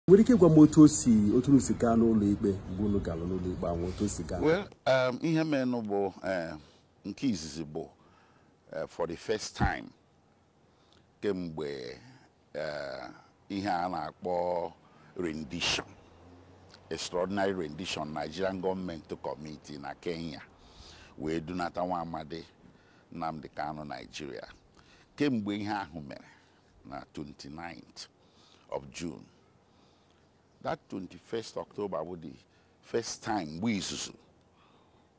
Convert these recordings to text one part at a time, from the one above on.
nwere ike ịgwa m otu o si otu unu si gaa n'ụlọ ikpe mgbe unu gara n'ụlọ ikpe ahụ otu o si gaa well um, ihe menụ bụ um, nke izizi bụ uh, for the first time kemgbe uh, ihe a na-akpọ rendition extraordinary rendition Nigerian government kọmiti na Kenya wee dunata nwa amadi Nnamdi Kanu Naijiria kemgbe ihe ahụ mere na 29th of June that 21st October bụ the first time mgbe izuzu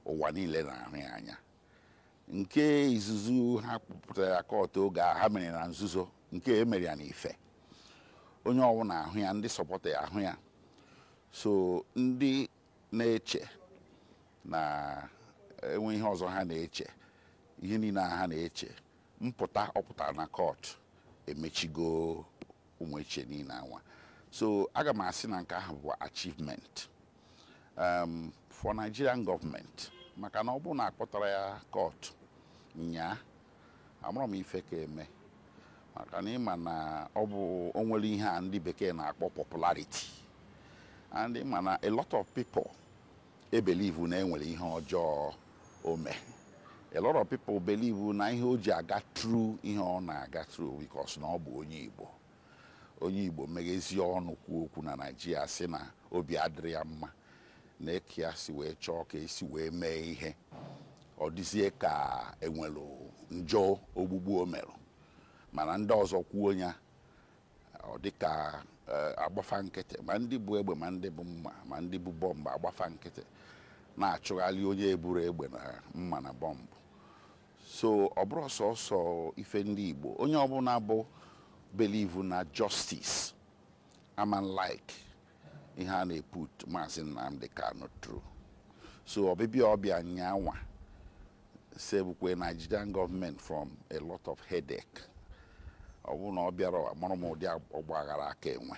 ụwa niile na-ahụ ya anya nke izuzu ha kpọpụtara ya court oge a ha mere na nzuzo nke e mere ya n'ife onye ọwụna ahụ ya ndị sọpọta ya ahụ ya so ndị na-eche na enwe ihe ọzọ ha na-eche ihe niile a ha na-eche mpụta ọ pụtara na court emechigo ụmụ echiche niile anwa so aga m asị na nke ahụ bụ achievement um, for Nigerian government maka na ọ bụrụ na akpọtarọ ya court nyaa amarọ m ife ka-eme maka na ị ma na ọ bụ o nwere ihe a ndị bekee na-akpọ popularity and ị ma na a lot of people e believe na e nwere ihe ọjọọ o mee a lot of people believe na ihe o ji aga through ihe ọ na-aga through because na ọ bụ onye Igbo onye Igbo meghezie ọnụ kwuo okwu na Naịjirịa sị na obi adịrọ ya mma na eke ya si wee chọọ ka e si wee mee ihe ọ dịzie ka e nwere njọ ogbugbu o merụ mana ndị ọzọ kwuo ya ọ dịka eh, a gbaa fa nkịtị ma ndị bu egbe ma ndị bu mma ma ndị bu bọmbụ a gbaa fa nkịtị na-achụgharị onye eburọ egbe na mma na bọmbụ so ọ bụrọ sọsọ ife ndị Igbo onye ọbụla bụ believe na justice aman like ihe a na-eput maazị Nnamdi Kanu through so ọbịbịa ọ bịa nyanwa savekwa Nigerian government from a lot of headache ọ bụrụ na ọ bịarọ amarọ m ụdị ọgba aghara a ka-enwe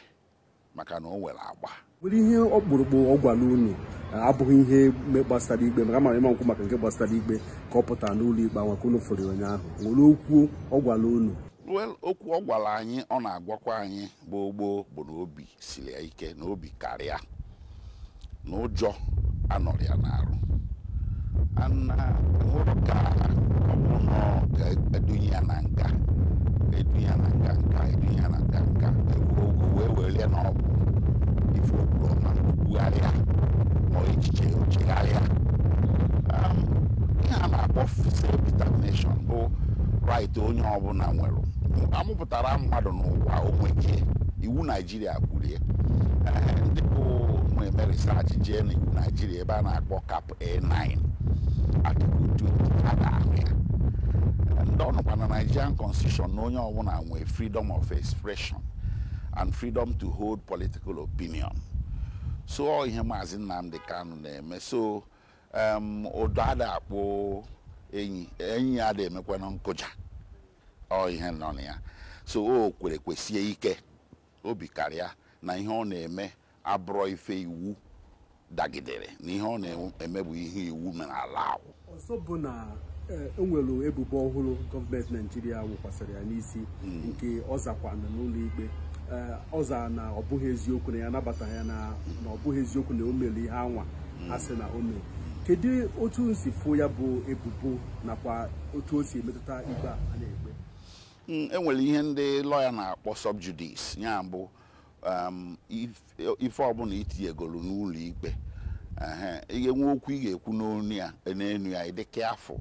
maka na o nwere agba nwere ihe ọkpụrụkpụ ọ gwara unu abụghị ihe gbasara ikpe maka m ma ị ma-ekwu maka nke gbasara ikpe ka ọ pụtara n'ụlọ ikpe anwa ka unu fụrụ ụnyaahụ nwere okwu ọ gwara unu okwu ọ gwara anyị ọ na-agwakwa anyị gboo gboo bụ na obi siri ya ike na obi kara ya na ụjọ anọrọ ya n'arụ na enwerọ ka ọ bụrụ na ọ ga-edunye ya na nga edunye ya na nga edunye ya na nga eruo ogo wee were ya na ọ bụ ife o kwuru ọ ma kwugharịa ma ọ echiche ya o chegharịa Um, ihe a na-akpọ self determination bụ right onye ọbụla nwere a mụpụtara mmadụ n'ụwa o nweke iwu naijiria kwuru ya ndị bụ um, e mee research jee na iwu naijiria ebe a na-akpọ cap a9 article 2 a ga-ahụ ya and ọ nọkwa na nigerian constitution na onye ọbụla nwee freedom of expression and freedom to hold political opinion so ọ ihe maazị nnamdị kanu na-eme so em, ụdọ ada akpụ enyi enyi ada emekwana nkụja ọ ihe nọ na ya so o kwere kwesie ike obi kara ya na ihe ọ na-eme abụrọ ife iwu dagidere na ihe ọ na-eme bụ ihe iwu mere allow ọzọ bụ na Eh, enwere ebubo ọhụrụ gọọmenti naijiria wụkwasịrị ya n'isi hmm. nke ọ zakwana n'ụlọ ikpe eh, ọ zara na ọ bụghị eziokwu na ya anabataghị ya na ọ bụghị eziokwu na o mere ihe anwa a sị na o mere kedu otu unu si fụ ya bụ ebubo nakwa otu o si emetụta ikpe a a na-ekpe Mm, e nwere ihe ndị lọya na-akpọ subjudice ya bụ um, if- ife ọbụla itinyegoro n'ụlọ ikpe ehe, ị ga-enwe okwu ị ga-ekwu n'onu ya n'enu ya ị dị careful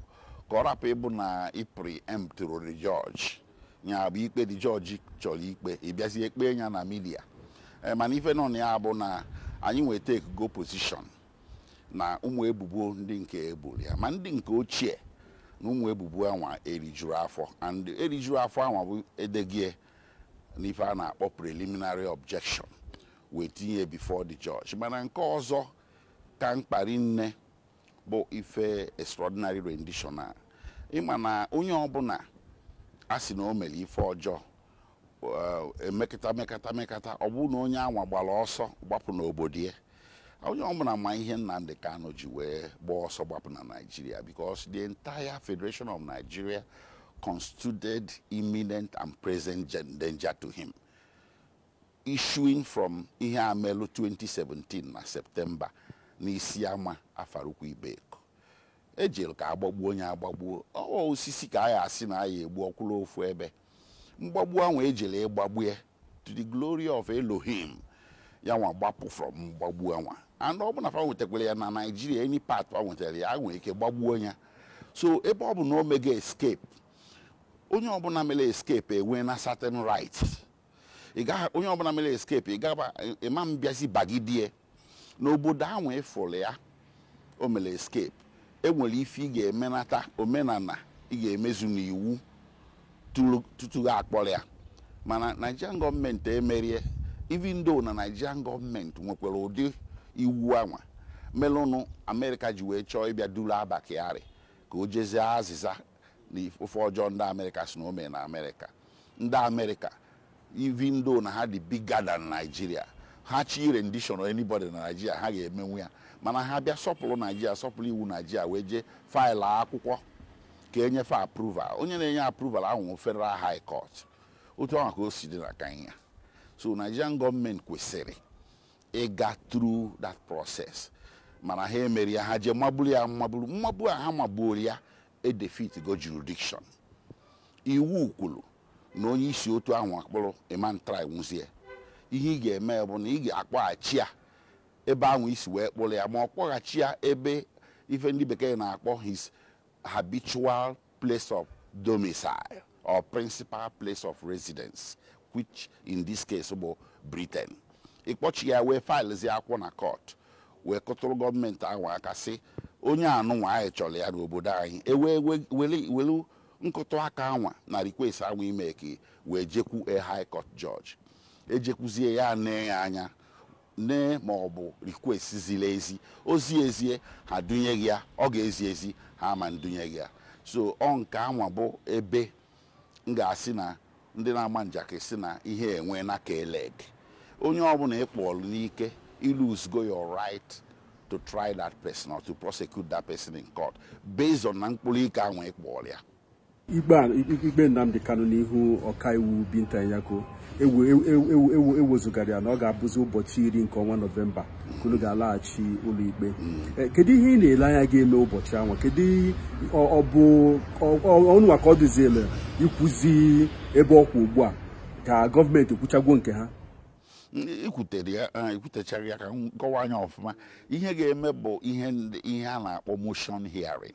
ka ọ rapụ ịbụ na ị preemptụrụ the judge ya bụ ikpe the judge chọrọ ikpe ị bịazie kpee ya na media eh, mana ife nọ na ya bụ na anyị nwa etakego position na ụmụ ebubo ndị nke e boro ya ma ndị nke ochie na ụmụ ebubo anwa erijurọ afọ and erijurọ afọ anwa bụ edego ya n'ife a na-akpọ preliminary objection wee tinye before the judge mana nke ọzọ ka mkpa rinne bụ ife extraordinary rendition a ị ma na onye ọbụla a sị na o mere ife ọjọọ eh, emekata mekata mekata ọ bụrụ na onye anwa gbara ọsọ gbapụ n'obodo ya onye ọbụla ma ihe Nnamdi Kanu ji wee gbaa ọsọ gbapụ na Nigeria because the entire Federation of Nigeria constituted imminent and present gen- danger to him issuing from ihe a melụ 2017 na septemba n'isiama afaraukwu ibeku ejere ka agbagbuo ya agbagbuo ọ wụ osisi ka a ya-asị na a ya-egbu ọ kwụrụ ofu ebe mgbagbu anwa ejere ịgbagbu ya to the glory of elohim ya nwa gbapụ from mgbagbu anwa and ọ bụ na fa nwetakwara ya na naijiria any part fa nwetara ya a nwere ike gbagbuo ya so ebe ọ bụ na o mego escape onye ọbụla mere escape enwe na certain rights ị gaghị onye ọbụla mere escape ị gaba ị ma abịazi bagide ya n'obodo ahụ ị fụrụ ya o mere escape enwere ife ị ga-emenata omenala ị ga-emezu n'iwu tụrụ- tutu gị akpọrọ ya mana nigerian gọọmenti emerọ ya even though na nigerian gọọmenti nwekwara ụdị iwu anwa melụnụ amerịka ji wee chọọ ịbịa duru abba kyari ka o jezie azịza na ife ọjọọ ndị amerịka sị na o me na amerịka ndị amerịka even though na ha dị bigger than Nigeria ha chọ ị rendition anybody na Nigeria ha ga-emenwu ya mana ha bịa sọpụrụ Nigeria sọpụrụ iwu Nigeria wee jee faịlụ akwụkwọ ka e nye fa approval onye na-enye approval ahụ bụ federal high court otu ahụ ka o si dị na Kenya so Nigerian gọọmenti kwesịrị ịga through that process mana ha emerọ ya ha jee magburu ya mmagburu mmagbu a ha magbuoro ya edefitgo jurisdiction iwu kwuru na onye i si otu ahụ kpụrụ ị ma ntraịnwuzi ya ihe ị ga-eme bụ na ị ga-akpọghachi ya ebe ahụ i si wee kpụrụ ya ma ọ kpọghachi ya ebe ife ndị bekee na-akpọ his habitual place of domicile or principal place of residence which in this case bụ Britain ị kpọchi ya wee faịlụzie akwụkwọ na kọt wee kụtụrụ gọọmenti ahụ aka sị onye anụnwa anyị chọrọ ya n'obodo anyị e wee welu nkụtụ aka anwa na request anwa ị make wee jekwu a high court judge e jekwuzie ya nee ya anya nee ma ọ bụ request ziri ezi o zie ezie ha dunye gị ya ọ ga-ezi ezi ha ma ndunye gị ya so ọ nke anwa bụ ebe m ga-asị na ndị na-ama njakịrị sị na ihe enwe na keled onye ọbụla ị kpọlụ n'ike i luzgo your right to try that person or to prosecute that person in court based on na mkpụrụ ike anwa ị kpọrọ ya ikpe Nnamdi Kanu n'ihu ọkaiwu Binta Nyako e wezugara ya na ọ ga-abụzi ụbọchị iri nke ọnwa nọvemba ka unu ga-alaghachi ụlọikpe eh, kedu ihe ị na-ele anya ga-eme ụbọchị ahụ kedu ọ bụ unu nwa ka ọ dịziele ikwuzi ebe ọ kwa ugbu a ka gọọmenti kwuchagwo nke ha i kwutere ya ah, i kwutechara ya ka m kọwaa nya ọfụma ihe ga-eme bụ ihe a na-akpọ motion hearing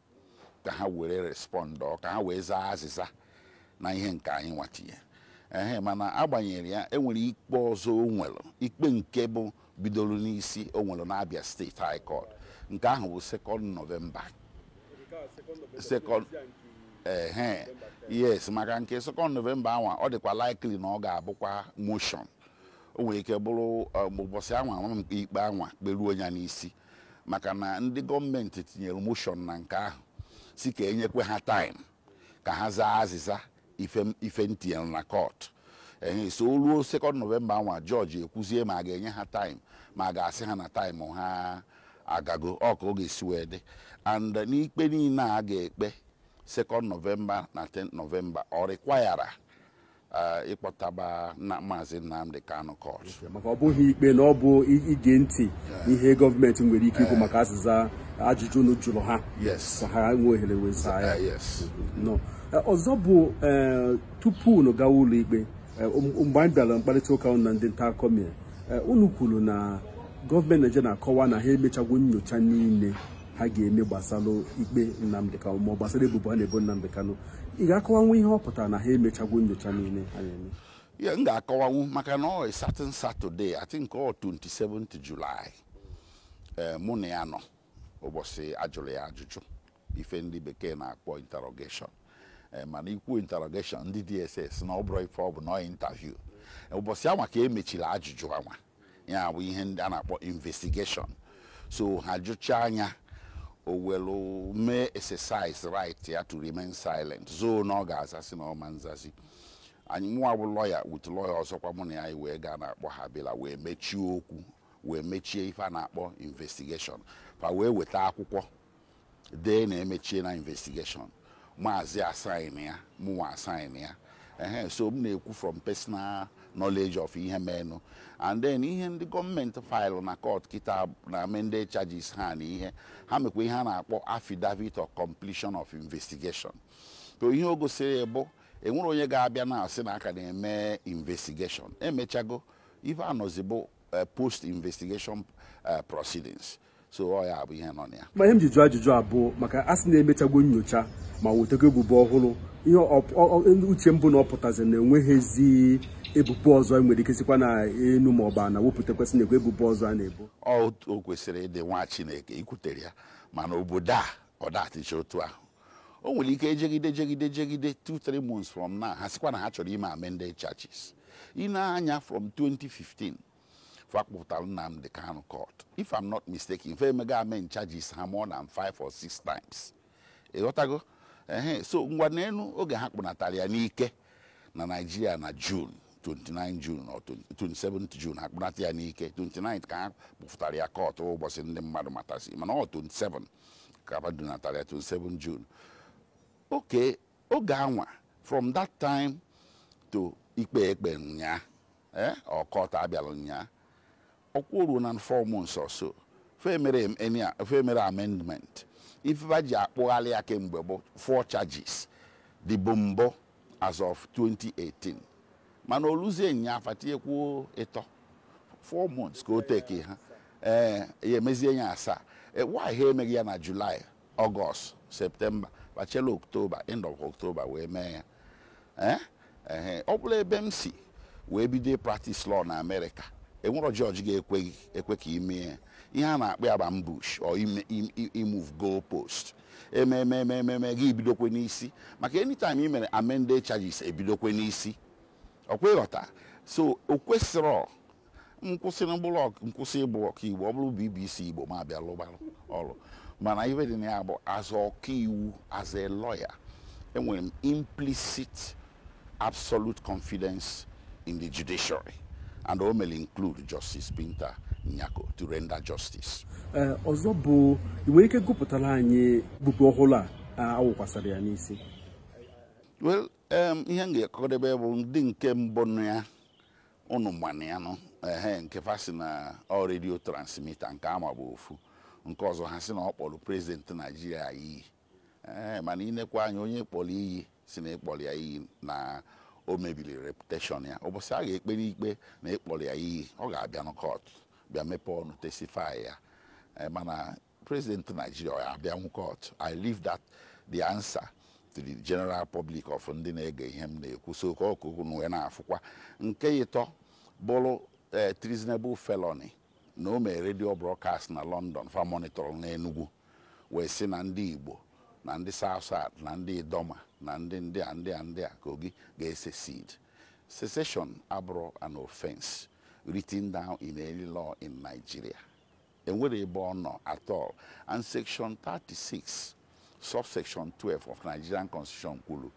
ka ha were respọndụ ka ha wee zaa azịza na ihe nke anyị nwa tinye ehe mana agbanyerọ ya e nwere ikpe ọzọ o nwere ikpe nke bụ bidoro n'isi o nwere n'Abia steeti high court nke ahụ bụ sekọnd nọvemba sekọnd ehe yes maka nke sekọnd nọvemba anwa ọ dịkwa likely na ọ ga-abụkwa motion o nwere ike bụrụ um, ụbọchị anwa ikpe anwa kperuo ya n'isi maka na ndị gọọmenti tinyere moshọn na nke ahụ sị ka e nyekwe ha taịm ka ha zaa azịza ife m tinyere na kọt ehe so o ruo sekọnd nọvemba anwa jọji ekwuzie ma a ga-enye ha taịm ma a ga-asị ha na taịm ha agago ọ ka ọ ga-esi wee dị and n'ikpe niile a ga-ekpe sekọnd nọvemba na 10 nọvemba ọ rịkwayara eh, ịkpọtaba na maazị Nnamdi Kanu court maka ọ bụghị ikpe na ọ bụ ige ntị ihe gọọmenti nwere ike ikwu eh. maka azịza ajụjụ unu jụrụ ha ka ha nwee ohere wee zaa ya eh, eh, ọzọ bụ tupu unu gawa ụlọ ikpe um, mgbe anyị bịara mkparịta ụka na ndị nta akụkọ mere unu kwuru na gọọmenti Naịjirịa na-akọwa na ha emechagwo nyocha niile ha ga-eme gbasara ikpe Nnamdi Kanu ma ọ gbasara ebubo a na-ebo Nnamdi Kanu ị ga-akọwanwu ihe ọ pụtara na ha emechagwo nyocha niile ha na-eme yeah m ga-akọwanwu maka na ọ certain Saturday I think ọ 27 July eh, mụ na ya nọ ụbọchị a jụrụ ya ajụjụ ife ndị bekee na-akpọ interrogation eh, mana i kwuo interrogation ndị DSS na ọ bụrọ ife ọ bụ na interview ụbọchị anwa ka e mechiri ajụjụ anwa ya bụ ihe ndị a na-akpọ investigation so ha jụchaa nya o welu mee exercise right ya to remain silent so na ọ ga-azasị na ọ ma nzazi anyị mụwa bụ lawyer with lawyer ọzọkwa mụ na ya anyị wee gaa a na-akpọ Habila wee mechie okwu wee mechie ife a na-akpọ investigation fa wee weta akwụkwọ dee na emechiena investigation maazị asign ya mụnwa asign ya ehe so m na-ekwu from personal knowledge of ihe menụ and then ihe ndị gọọmenti file na court kịta na amended charges ha na ihe ha mekwa ihe a na-akpọ affidavit of completion of investigation so ihe o gosiri bụ e nwerọ onye ga-abịa na-asị na a ka na-eme investigation emechago ife a nọzi bụ eh, post investigation eh, proceedings so ọ ya bụ ihe nọ na ya ma ihe m ji jụọ ajụjụ a bụ maka a sị na emechagwo nyocha ma wetago ebubo ọhụrụ ihe uche m bụ na ọ pụtazi na enweghịzi ebubo ọzọ e nwere ike sikwa na enu ma ọ bụ ana wepụtakwa sị na e nwe ebubo ọzọ a na-ebo o kwesịrị ịdị nwa Chineke i kwutere ya mana obodo a ọ da adịcha otu ahụ o nwere ike e jegide jegide jegide 2-3 months from now ha sikwa na ha chọrọ ime amended charges i nee anya from 2015 fa kpụpụtara Nnamdi Kanu court if I'm not mistaken fa emego amend charges ha more than five or six times ịghọtago ehe so ngwa neenụ oge ha kpụnatara ya n'ike na Naịjirịa na June 29 June or 27 June ha kpụnata ya n'ike 29 ka ha kpụpụtara ya court ụbọchị ndị mmadụ matasị mana ọ 27 ka ha dunatara ya 27 June okay oge anwa from that time to ikpe e kpe ụnyaa eh, or court a bịalụ ụnyaa ọ kwa o ruona four months or so fa emerọ amendment ife fa ji akpụghalị ya kemgbe bụ four charges dịbụ mbụ as of 2018 mana o luzie ụnyaa fa tinyekwuo ịtọ four months ka o teki ha ee eh, ya e mezie ya asaa eh, why ha emeghị ya na July August September bachela October end of October wee mee ya eh? ee ọ bụrụ ebe m si wee bido practice law na America enwerọ judge ga-ekwe ka ime ihe a na-akpọ ya bụ ambush or imove goal post emee emee gị ebidokwe n'isi maka anytime ị mere amended charges ebidokwe n'isi ọkwa ịghọta so o kwesịrọ m kwụsị na m bụrụ ọk- m kwụsị ịbụ ọkaiwu ọ bụrụ bbc igbo m abịa lụba ọrụ mana ife dị na ya bụ as ọkaiwu as a lawyer enwere m implicit absolute confidence in the judiciary and o mere include justice Binta Nyako to render justice Ee, ọzọ bụ ị nwere ike gụpụtara anyị ebubo ọhụrụ a a wụkwasara ya n'isi well um, ihe m ga-akọdebe bụ ndị nke mbụ na ya ụnụ manụ ya nụ ehe nke fa si na ọ radio transmitter nke anwa bụ ofu nke ọzọ ha si na ọ kpọrọ president Nigeria iyi ee mana inekwa anya onye kpọrọ iyi si na ịkpọrọ ya iyi na o mebiri reputation ya ụbọchị a ga-ekpere ikpe na ịkpọrọ ya iyi ọ ga-abịa na court bịa mepee ọnụ testify ya Ee, mana president Nigeria ọ ya-abịanwu court I leave that the answer to the general public of ndị na-ege ihe m na-ekwu so ka ọkụkụ na wee na-afụkwa nke ịtọ bụrụ eh, treasonable felony na o mere radio broadcast na London fa monitor n'Enugu wee sị na ndị Igbo na ndị South South na ndị Idoma na ndị ndị a ndị a ndị a Kogi ga-secede secession abụrọ an offense written down in any law in Nigeria enwerọ ebe ọ nọ at all and section 36 subsection 12 of Nigerian constitution kwuru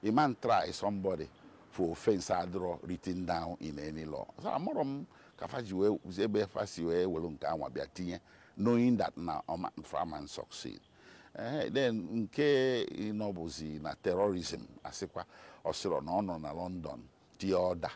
aman try somebody for offense adịrọ written down in any law so amarọ m ka fa ji wee ebe fa si wee were nke anwa bịa tinye knowing that na fa aman succeed ee eh, then nke ịnọ bụzi na terrorism asịkwa ọ sịrọ na ọ nọ na London tie order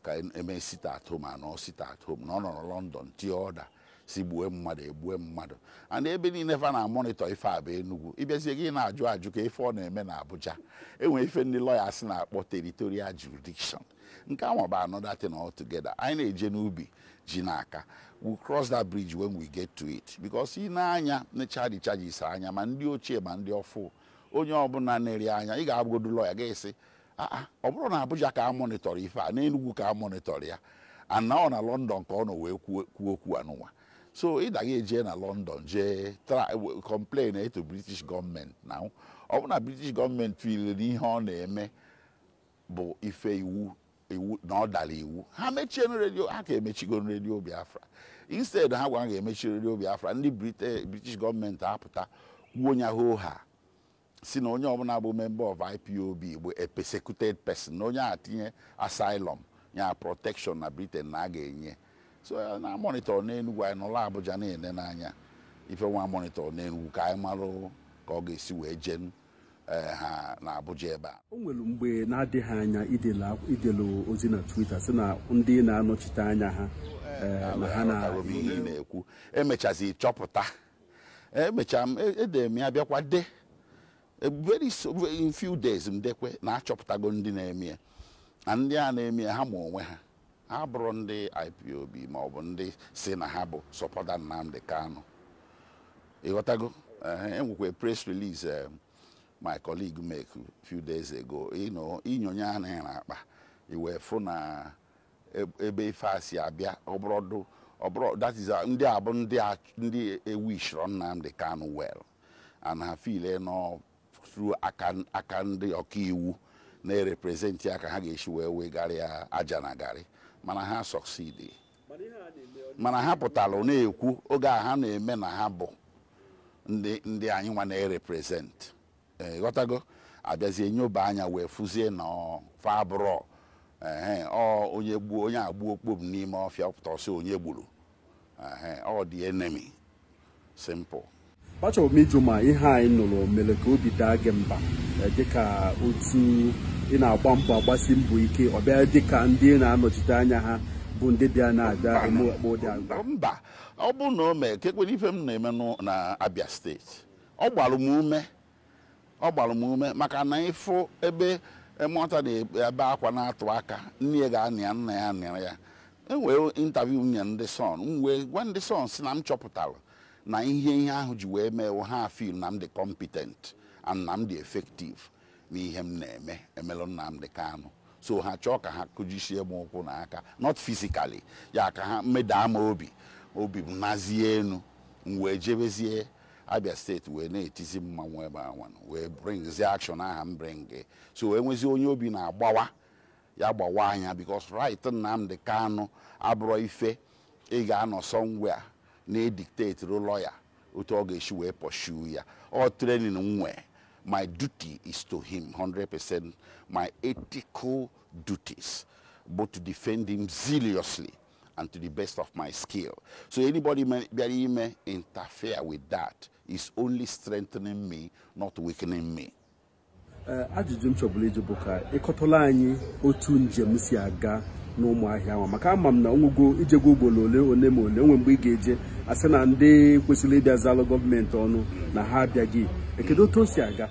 ka eme sit at home a nọ sit at home na ọ nọrọ London tie order sị gbue mmadụ egbue mmadụ and ebe niile fa na-amonitor ife a bụ Enugu ị bịazie gị na-ajụ ajụ kee ife ọ na-eme na Abuja enwere ife ndị lawyers na-akpọ territorial jurisdiction nke anwa bụ another thing altogether anyị na-eje n'ubi ji ana-aka we cross that bridge when we get to it because ị nee anya nechaa the charges anya ma ndị ochie ma ndị ọfụ onye ọbụla nere anya ị ga-abụgodu lawyer ga-asị aa ọ bụrọ na Abuja ka a mọnịtọrọ ife a n'Enugwu ka a mọnịtọrọ ya and ọ na London ka ọ nọ wee kwuo kwuo okwu anụnwa so ị daghị eje na London jee tra w- complain to British gọọmenti na ọ bụ na British gọọmenti tụlere na ihe ọ na-eme bụ ife iwu iwu na ọ dara iwu ha mechie redio ha ka emechigo redio Biafra instead ha gwara ga-emechi redio Biafra ndị Brite- British gọọmenti apụta kwuo nya hoo ha sị na onye ọbụla bụ member of IPOB bụ a persecuted person na onye a tinye asylum ya protection na Britain na a ga-enye ya so na monitor n'Enugu anyị nọrọ Abuja na-ele n'anya ife nwa monitor n'Enugu ka anyị marụ ka ọ ga-esi wee jee eh, ha na Abuja ebe a o nwere mgbe na-adịghị anya i dele akw- i dele ozi na Twitter sị na ndị ị na-anọchite anya ha eh, na ha na aghọtara m ihe ị na-ekwu emechazi chọpụta emechaa m e- edere m ya bịakwa de E, very so- in few days m dekwe na achọpụtago ndị na-eme ya na ndị a na-eme ya ha ma onwe ha ha abụrọ ndị IPOB ma ọ bụ ndị sị na ha bụ supporter Nnamdi Kanu ịghọtago Ehe, enwekwa press release eh, my colleague make few days ago you know, i nyonye anya n'akpa i wee fụ na ebe ife a si abịa ọ bụrọdụ ọ bụrọ that is uh, ndị a bụ ndị ndị ewishirọ Nnamdi Kanu well and ha feel na ọ through aka ndị ọkaiwu na-erepresent ya ka ha ga-esi wee wegara ya aja na garị mana ha succeed mana ha pụtara na-ekwu oge a ha na-eme na ha bụ ndị anyị nwa na-erepresent ịghọtago abịazie nyoba anya wee fụzie na fa abụrọ ehe ọ onye gbuo onye agbuo okpobu n'ime ọfịa pụta ọ sị onye gburu ehe ọ ndị enemy simple achọrọ m ịjụ ma ihe anyị nụrụ mere ka obi daa gị mba eh, dịka otu ị na-agba mbọ agbasi mbọ ike ọ bịa dịka ndị ị na-anọchite anya ha bụ ndị bịa na-abịa eme akpa ụdị agwa mba ọ bụ na o mee ka e kwere ife m na-eme n'ụ- na Abia steeti ọ gbara m ume ọ gbara m ume maka na ị fụ ebe nwata na-ebe akwa na-atụ aka nne ya ga-anọ ya nna ya anọrọ ya enwee interview m nye ndị Sun m wee gwa ndị Sun sị na m chọpụtara na ihe ihe ahụ ji wee mee ha feel na m dị competent and na m dị effective n'ihe m na-eme emelụ Nnamdi Kanu so ha chọọ ka ha kụjisie m ụkwụ na aka not physically ya ka ha medaa m obi obi m nazie enu m wee jebezie abia steeti wee na-etizi mmanwụ ebe anwa wee bringzi action aha m bring so e nwezi onye obi na-agbawa ya gbawa anya because right Nnamdi Kanu abụrọ ife ị ga-anọ somewhere na-edictateru lọya otu ọ ga-esi wee pursue ya ọ training m nwee my duty is to him 100% my ethical duties bụ to defend him zealously and to the best of my skill. So anybody bịara ime interfere with that is only strengthening me, not weakening me. Eh, ajụjụ m chọbula ịjụ bụ ka ị kọtụla anyị otu njem si aga n'ụmụahịa ahụ maka ama m na o nwego i jego ugboro ole ole ma ole o nwee mgbe ị ga-eje a sị na ndị kwesịrị ịbịa zalụ gọọmenti ọnụ na ha abịaghị ee kedụ otu o si aga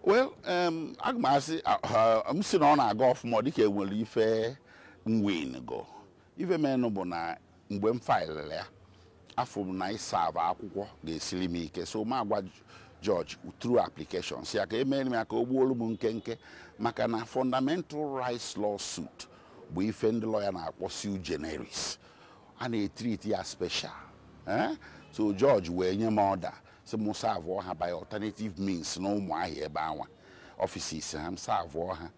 well um, aga m asị m sị na ọ na-aga ọfụma dịka e nwere ife m wingo ife meenụ bụ na mgbe m faịlịrị ya afụ m na ịsavụ akwụkwọ ga-esiri m ike so m agwa jọji through application sị ya ka e mere m ya ka o gbuolu m nkenke maka na fundamental rights lawsuit bụ ife ndị lọya na-akpọ sui generis a na-etriti ya special eh? so jọji wee nye m ọda sị m savụọ ha by alternative means na ụmụahịa ebe anwa ọfisis ha m savụọ ha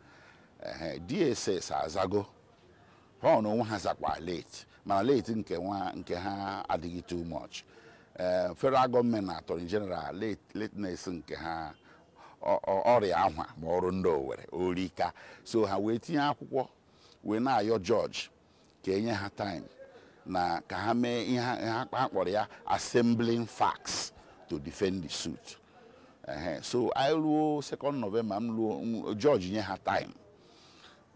ehe DSS azago ha na onwe ha zakwa late mana late nke nwa nke ha adịghị too much ee federal gọọmenti na attorney general late lateness nke ha ọ- ọ- ọ rị ahwa ma ọ rụ ndị Owere o rika so ha wee tinye akwụkwọ wee na-ayọ jọji ka e nye ha time na ka ha mee ihe ha ha kpọrọ ya assembling facts to defend the suit Ehe, so anyị ruo second november m ruo m- judge nye ha time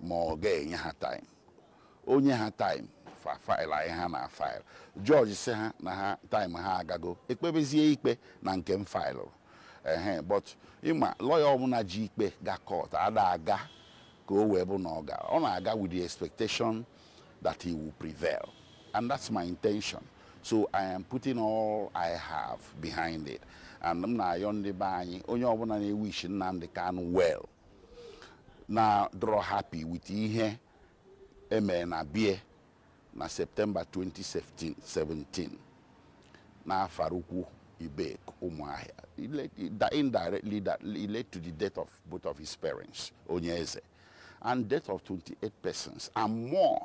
ma ọ ga-enye ha time o nye ha time fa faịlụ anyị ha na faịlụ jọji sị ha na ha taịm ha agago ekpebezie ikpe na nke m faịlụ ehe but ị ma lọya ọbụla ji ikpe ga kọt ada aga ka o wee bụ na ọ gara ọ na-aga with the expectation that he will prevail and that's my intention so i am putting all i have behind it and m na-ayọ ndị be anyị onye ọbụla na-ewish Nnamdi Kanu well na-adrọ happy with ihe e mere na bie na septemba 2017 n'Afaraukwu Ibeku ụmụahịa indirectly that led to the death of both of his parents onye eze and death of 28 persons and more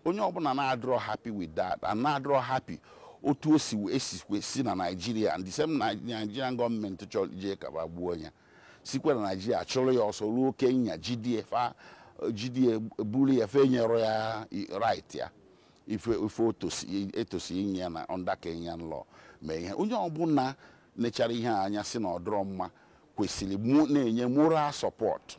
onye ọbụla na-adịrọ happy with that and na-adịrọ happy otu o si esikwe si na naijiria and the same nigerian gọọmenti chọrọ ije kaba gbuo onye sikwa na naijiria chụrụ ya ọsọ ruo kenya jidie fa jidie buru ya fa enyerọ ya i- right ya ife ife otosi etosi inye ya na under kenyan law mee ihe onye ọbụla nechara ihe a anya sị na ọ dịrọ mma kwesịrị ịna-enye moral support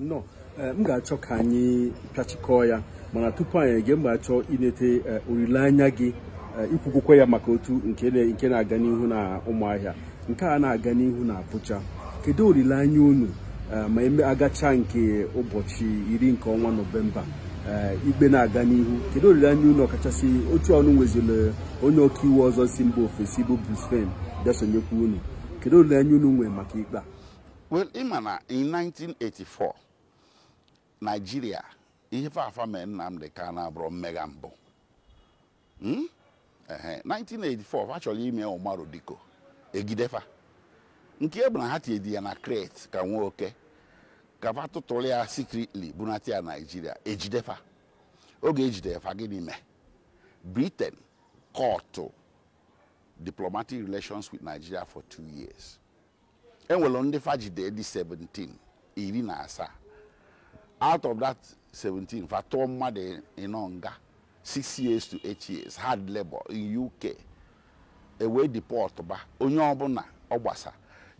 nọ eh, m ga-achọ ka anyị pịachikọọ ya mana tupu anyị eje m ga-achọ inete eh, olileanya gị eh, i kwugokwa ya maka otu nke na- nke na-aga n'ihu na ụmụahịa nke a na-aga n'ihu na Abuja kedu olileanya unu eh, ma eme agacha nke ụbọchị iri nke ọnwa nọvemba eh, ikpe na-aga n'ihu kedu olileanya unu ọkachasị otu unu nweziri onye ọkaiwu ọzọ si mba ofesi bụ Bruce Fein bịa sonyekwa unu kedu olileanya unu nwee maka ikpe a well ị ma na in 1984 Nigeria ihe fa fa mee Nnamdi Kanu abụrọ mmega mbụ Hmm? Ehe, 1984 fa chọrọ ime Umaru Dikko e jide fa nke a bụ na ha tinyedi ya na crate ka nwa oke ka fa tụtụrụ ya secretly bunata ya Nigeria e jide fa oge e jidere fa gịnị mee Britain cut diplomatic relations with Nigeria for two years enwere ndị fa jide dị 17 iri na asaa out of that 17 fa tụọ mmadụ ịnọ nga 6 years to 8 years hard labor in uk e wee deport ba onye ọbụla ọ gbasa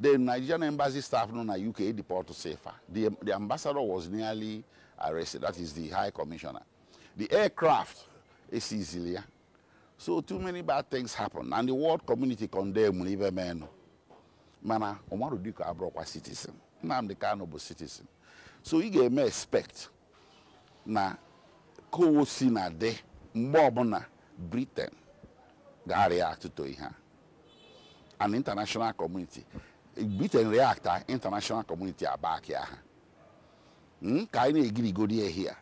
the nigerian embassy staff nọ na uk deportsịa fa the, the ambassador was nearly arrested that is the high commissioner the aircraft e seizili ya so too many bad things happen and the world community condemn ife menụ mana Umaru Dikko abụrọkwa citizen Nnamdi Kanu bụ citizen so ị ga-eme expect na ka o si na-adị mgbe ọbụla Britain ga-react to ihe a and international community Britain react international community abackịa ha hmm? ka anyị na-egirigodi ya here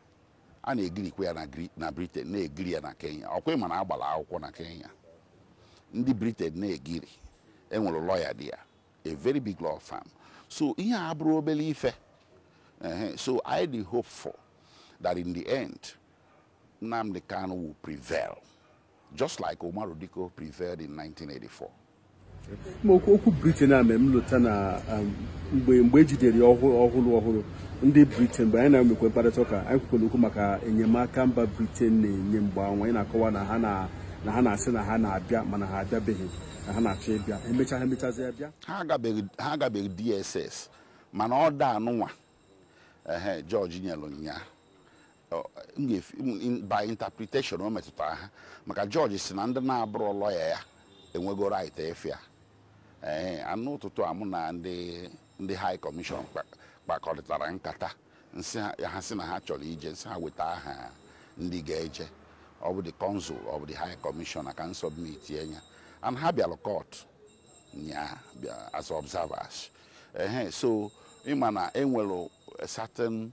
a na-egirikwa ya na Bri- na briten na-egiri ya na kenya ọkwa ị ma na a gbara akwụkwọ na kenya ndị briten na-egiri enwere lọya dị ya a very big law firm so ihe a abụrọ obere ife Ehe, so anyị dị hopeful that in the end nnamdi kanu will prevail just like Umaru Dikko prevailed in 1984. okwu Britain a mere m lota na um, mgbe mgbe e jidere ya ọhụrụ ọhụrụ ndị Britain mgbe anyị na-emekwa mkparịta ụka anyị kwukwara okwu maka enyemaka mba Britain na-enye mgbe anwa anyị na-akọwa na ha na-asị na ha na-abịa mana ha abịabeghị na ha na-achọ ịbịa emecha ha emechazịa bịa ha agabeghị DSS mana order a nụnwa ehe judge nyelụ nya by interpretation o metụtara ha maka judge si na ndị na-abụrọ lawyer ya enwego right ịfụ ya ee and n'ụtụtụ a mụ na ndị ndị high commission kpakọrịtara nkata m sị ha si na ha chọrọ ije m sị ha weta aha ndị ga-eje ọ bụ the consul ọ bụ the high commissioner ka m submitie ya and ha bịara court nyaa as observers ehe so ị ma na enwere certain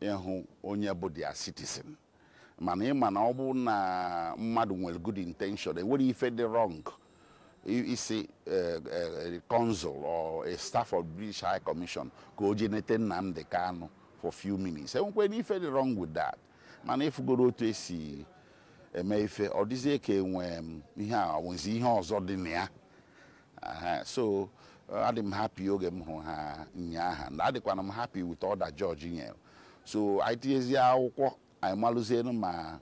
ịhụ onye bụ their citizen mana ị ma na ọ bụ na mmadụ nwere good intention enwere ife dị wrong ị sị eh, eh, consul or a staff of British High Commission ka o jee nete Nnamdi Kanu for few minutes enwekwanụ ife dị wrong with that mana ị fụgoro otu esi eme ife ọ dịzie ka enwe mm, ihe a nwezi ihe ọzọ dị na ya Ehe, so adị m happy oge m hụrụ ha nyaahụ na adịkwanụ m happy with order judge nyere so anyị tinyezie akwụkwọ anyị malụzienu ma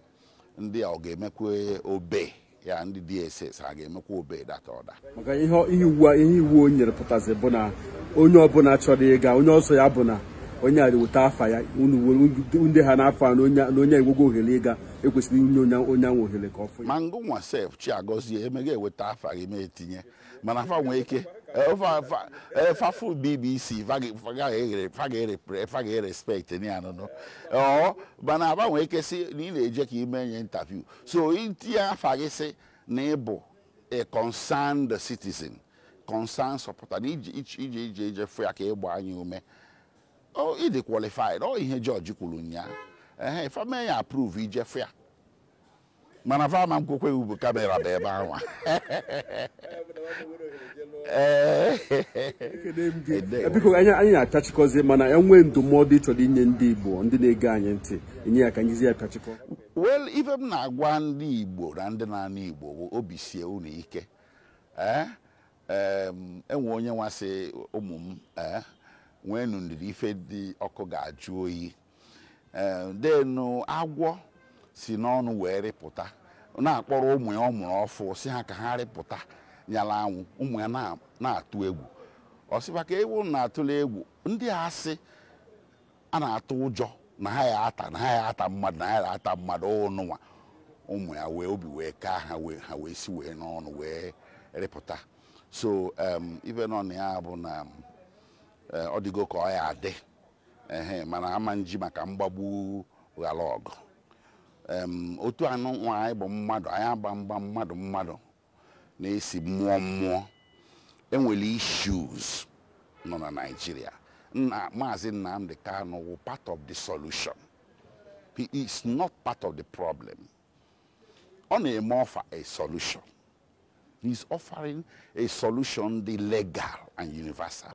ndị a ọ ga-emekwa obey ya ndị DSS ha ga-emekwa obey that order maka ihe ihe iwu a- ihe iwu o nyere pụtazi bụ na onye ọbụla chọrọ ịga onye ọ sọ ya bụ na onye a weta afa ya unu were ndị ha n'afọ a na onye a- na onye a enwego ohere ịga ekwesịrị inye onye onye ahụ ohere ka ọ fụ ya ma ngịnwa sef Chiagozie emega eweta afa gị m etinye mana fa nwee ike eh, fa- fa- eh, fa fụ BBC fa ga- fa ga- eghere- fa ga-ere- fa ga-erespect ya nnọọ o mana aba nwee ike si na ị na-eje ka i mee nya interview so i tinye afa gị si na ị bụ a concerned citizen concerned supporter na iji iji iji ije fụ ya ka ị gbaa nya ume Oh, ị dị qualified. Ọ ihe judge kwuru nyaa. Eh, fa mee ya approve i jee fụ ya. Mana fa ama nkwekwe ibu camera baa ebe anwa. Eh. biko anyị anyị na-apịachikọzi mana enwee ndụmọdụ ị chọrọ inye ndị Igbo ndị na-ege anyị ntị enye ya ka m jizi ya pịachikọ Well, ife m na-agwa ndị Igbo na ndị na-anụ Igbo bụ obi sie unu ike. Eh? Em, enwe onye nwa sị ụmụ m eh, nweenụ ndidi ife dị ọkụ ga-ajụ oyi Eh, then agwọ si n'ọnụ wee rịpụta na-akpọrọ ụmụ ya ọ mụrụ ọfụụ sị ha ka ha rịpụta nyala anwụ ụmụ ya na- na-atụ egwu ọ sị ba ka unu atụla egwu ndị a sị a na-atụ ụjọ na ha ya ata na ha ya ata mmadụ na ha ya ata mmadụ ụnụnwa ụmụ ya wee obi wee kaa ha wee ha wee si wee n'ọnụ wee rịpụta so um, ife nọ na ya bụ na um, eh, ọ dịgo ka ọ ya adị ehe mana ama nji maka mgbagbu ghara ọgụ Em, otu anụnwa anyị bụ mmadụ anyị agba mgba mmadụ mmadụ na-esi mmụọ mmụọ enwere issues nọ na Naịjirịa na maazị Nnamdi Kanu wụ part of the solution he is not part of the problem ọ na-eme offer a solution he is offering a solution dị legal and universal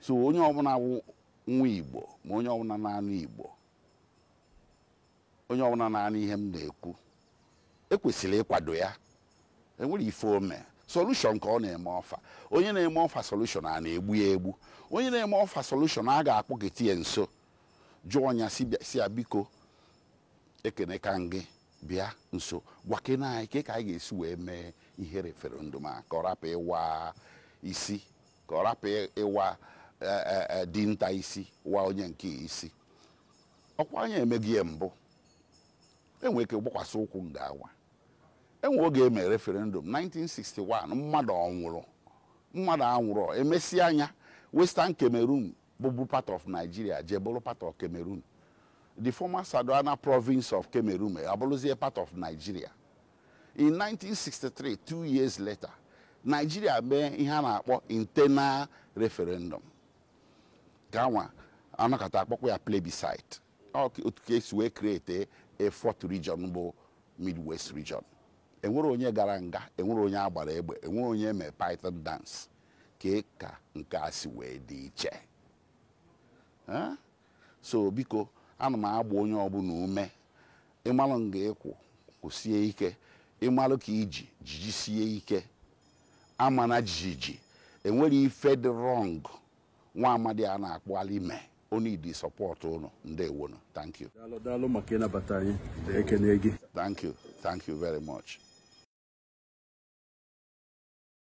so onye ọbụla wụ nwa igbo ma onye ọbụla na-anụ igbo onye ọbụla na-anụ ihe m na-ekwu ekwesịrị ịkwado ya enwere ife o me solution ka ọ na-eme offer onye na-eme offer solution a na-egbu ya egbu onye na-eme offer solution a ga-akpọketa ya nso jụọ nya sị ya biko ekene ka ngị bịa nso gwakene anyị ka ka anyị ga-esi wee mee ihe referendum a ka ọ rapụ ịwa isi ka ọ rapụ ịwa eh, eh, eh, dinta isi wa onye nke isi ọ kwa anyị emego ya mbụ enwe ike gbakwasị ụkwụ nga ahụ enwe oge e mere referendum 1961 mmadụ ọ nwụrụ mmadụ anwụrọ emesịa nya Western Cameroon bụbu part of Nigeria jee bụrụ part of Cameroon the former Sardauna province of Cameroon abụrụzie part of Nigeria in 1963 two years later Nigeria mee ihe a na-akpọ internal referendum ka nwa anọkata akpọkwa ya plebiscite otu ka esi wee create a fourth region bụ Midwest region enwere onye gara nga enwere onye agbara egbe enwere onye mee python dance kee ka nke a si wee dị iche Eh? so biko ana m agba onye ọbụla ume ị malụ nga ị kwụ kwụsie ike ị malụ ka i ji ji jisie ike amana jijiji enwere ife dị wrong nwa amadi a na-akpụalị me ọ needi support ụnụ ndewonu thank you daalụ daalụ maka ịnabata anyị ekene gị thank you thank you very much